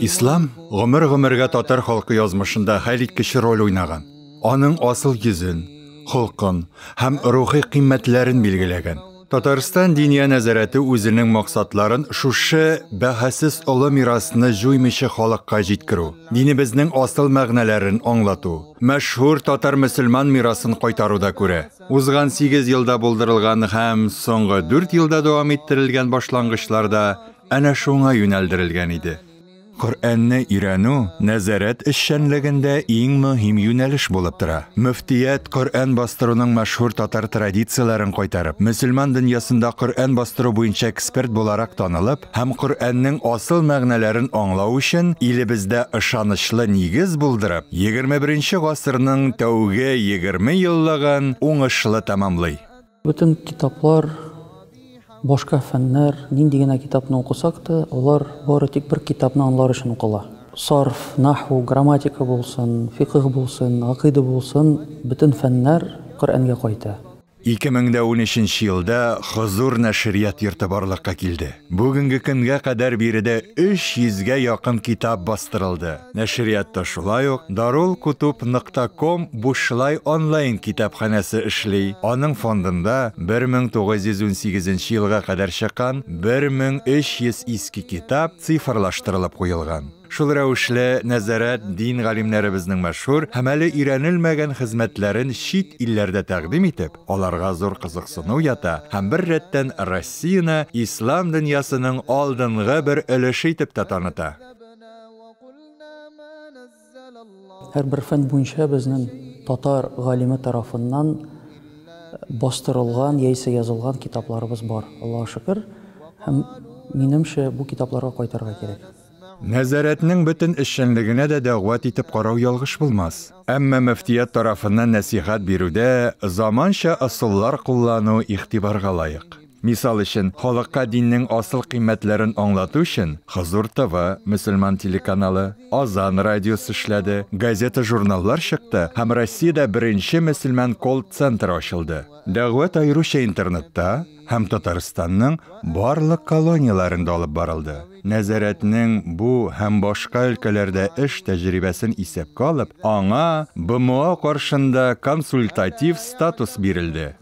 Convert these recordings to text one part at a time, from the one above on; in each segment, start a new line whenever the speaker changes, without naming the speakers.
Ислам гомер-гомергә татар халкы язмышында хәлиткеч роль уйнаган. Аның асыл йөзен, холкын һәм рухи кыйммәтләрен билгеләгән. Татарстан Диния нәзарәте үзенең максатларын шушы бәһасез олы мирасны җуймыйча халыкка җиткерү, динебезнең асыл мәгънәләрен аңлату, мәшһүр татар-мөселман мирасын кайтаруда күрә. Узган сигез елда булдырылган һәм соңгы дүрт елда дәвам иттерелгән башлангычлар да әнә шуңа юнәлдерелгән иде. Коръәнне өйрәнү нәзарәт эшчәнлегендә иң мөһим юнәлеш булып тора. Мөфтият, Коръән бастыруның мәшһүр татар традицияләрен кайтарып, мөселман дөньясында Коръән бастыру буенча эксперт буларак танылып һәм Коръәннең асыл мәгънәләрен аңлау өчен илебездә ышанычлы нигез булдырып, егерме беренче гасырның тәүге егерме еллыгын уңышлы тәмамлый. Бөтен китаплар, башка фәннәр, нинди генә китапны укысак та, алар бары тик бер китапны анлар өчен укыла. Сарф, наху, грамматика булсын, фикыһ булсын, гакыйдә булсын, бөтен фәннәр Коръәнгә кайта. Ике мең дә унөченче елда Хозур нәшрият йорты барлыкка килде. Бүгенге көнгә кадәр биредә 300 гә якын китап бастырылды. Нәшриятта шулай ук Дарулкутуб нокта ком бушлай онлайн китапханәсе эшли, аның фондында 1918 нче елга кадәр чыккан 1300 иске китап цифрлаштырылып куелган. Шул рәвешле, нәзарәт дин галимнәребезнең мәшһүр һәм әле өйрәнелмәгән хезмәтләрен чит илләрдә тәкъдим итеп, аларга зур кызыксыну ята һәм бер рәттән Россияне ислам дөньясының алдынгы бер өлеше итеп тә таныта. Һәрбер фән буенча безнең татар галиме тарафыннан бастырылган яисә язылган китапларыбыз бар, Аллага шөкер, һәм минемчә бу китапларга кайтырга кирәк. Нәзарәтнең бөтен эшчәнлегенә дә дәгъват итеп карау ялгыш булмас. Әмма мөфтият тарафыннан нәсыйхәт бирүдә заманча ысуллар куллану игътибарга лаек. Мисал өчен, халыкка диннең асыл кыйммәтләрен аңлату өчен Хозур ТВ, мөселман телеканалы, Азан радиосы эшләде, газета-журналлар чыкты һәм Россиядә беренче мөселман колл-центр ачылды. Дәгъват аеруча интернетта, һәм Татарстанның барлык колонияләрендә алып барылды. Нәзарәтнең бу һәм башка өлкәләрдә эш тәҗрибәсен исәпкә алып, аңа БМО каршында консультатив статус бирелде.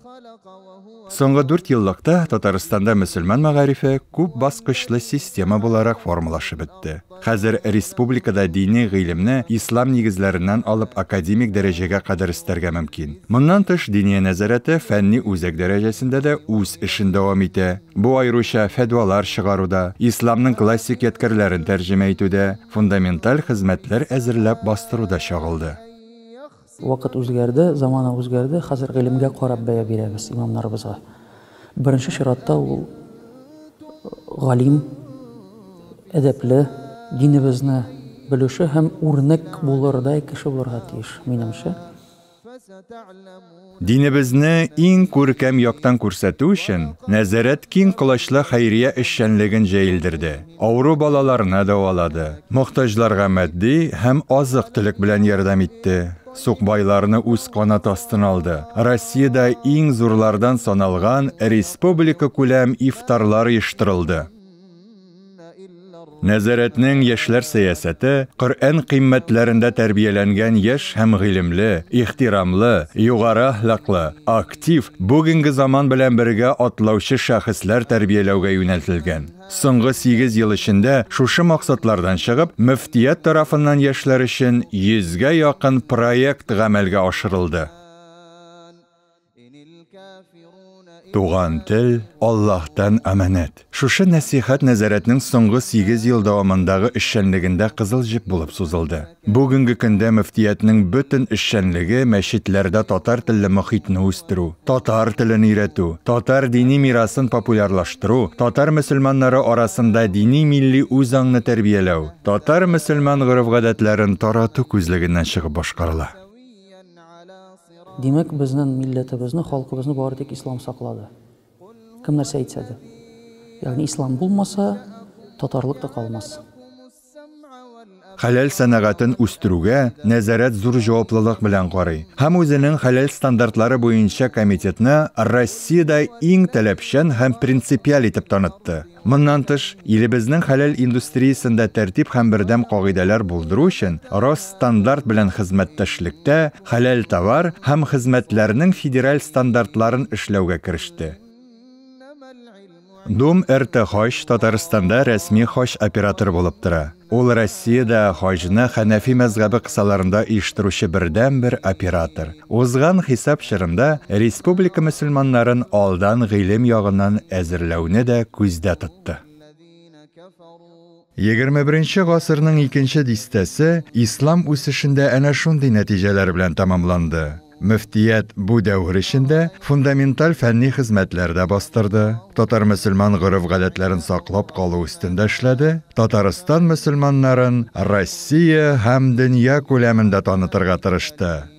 Соңгы дүртьеллыкта Татарстанда мөселман мәгарифе күп баскычлы система буларак формалашып бетте. Хәзер республикада дини гыйлемне ислам нигезләреннән алып академик дәрәҗәгә кадәр өстәргә мөмкин. Моннан тыш Диния нәзарәте фәнни үзәк дәрәҗәсендә дә үз эшен дәвам итә. Бу аеруча фәтвалар чыгаруда, исламның классик ядкәрләрен тәрҗемә итүдә, фундаменталь хезмәтләр әзерләп бастыруда чагылды. Вакыт үзгәрде, замана үзгәрде, хәзер гыйлемгә карап бәя бирәбез имамнарыбызга. Беренче чиратта ул галим, әдәпле, динебезне белүче һәм үрнәк булырдай кеше булырга тиеш, минемчә. Динебезне иң күркәм яктан күрсәтү өчен, Нәзарәт киң колачлы хәйрия эшчәнлеген җәелдерде. Авыру балаларны дәвалады, мохтаҗларга матди һәм азык-төлек белән ярдәм итте. Сукбайларны үз канат астына алды. Россиядә иң зурлардан саналган республикакүләм ифтарлар оештырылды. Нәзарәтнең яшьләр сәясәте Коръән кыйммәтләрендә тәрбияләнгән яшь һәм гыйлемле, ихтирамлы, югары әхлаклы, актив, бүгенге заман белән бергә атлаучы шәхесләр тәрбияләүгә юнәлтелгән. Соңгы сигез ел эчендә шушы максатлардан чыгып, мөфтият тарафыннан яшьләр өчен йөзгә якын проект гамәлгә ашырылды. Туган тел, Аллаһтан аманәт. Шушы нәсыйхәт нәзарәтнең соңгы сигез ел дәвамындагы эшчәнлегендә кызыл җеп булып сузылды. Бүгенге көндә мөфтиятнең бөтен эшчәнлеге мәчетләрдә татар телле мохитне үстерү, татар телен өйрәтү, татар дини мирасын популярлаштыру, татар мөселманнары арасында дини-милли үзаңны тәрбияләү, татар-мөселман гореф-гадәтләрен тарату күзлегеннән чыгып башкарыла. Димәк, безнен милләтебезне, халкыбызны бары тик ислам саклады. Кем нәрсә әйтсә дә. Ягъни ислам булмаса, татарлык та калмас. Хәләл сәнәгатен үстерүгә нәзарәт зур җаваплылык белән карый һәм үзенең хәләл стандартлары буенча комитетны Россиядә иң таләпчән һәм принципиаль итеп танытты. Моннан тыш, илебезнең хәләл индустриясендә тәртип һәм бердәм кагыйдәләр булдыру өчен Росстандарт белән хезмәттәшлектә хәләл товар һәм хезмәтләрнең федераль стандартларын эшләүгә кереште. Дом РТ Хаҗ Татарстанда рәсми хаҗ операторы булып тора. Ул Россиядә хаҗны хәнәфи мәзгабе кысаларында оештыручы бердәнбер оператор. Узган хисап чорында республика мөселманнарын алдан гыйлем ягыннан әзерләүне дә күздә тотты. Егерме беренче гасырның икенче дистәсе ислам үсешендә әнә шундый нәтиҗәләр белән тәмамланды. Мөфтият бу дәвер эчендә фундаменталь фәнни хезмәтләр дә бастырды, татар-мөселман гореф-гадәтләрен саклап калу өстендә эшләде, Татарстан мөселманнарын Россия һәм дөнья күләмендә танытырга тырышты.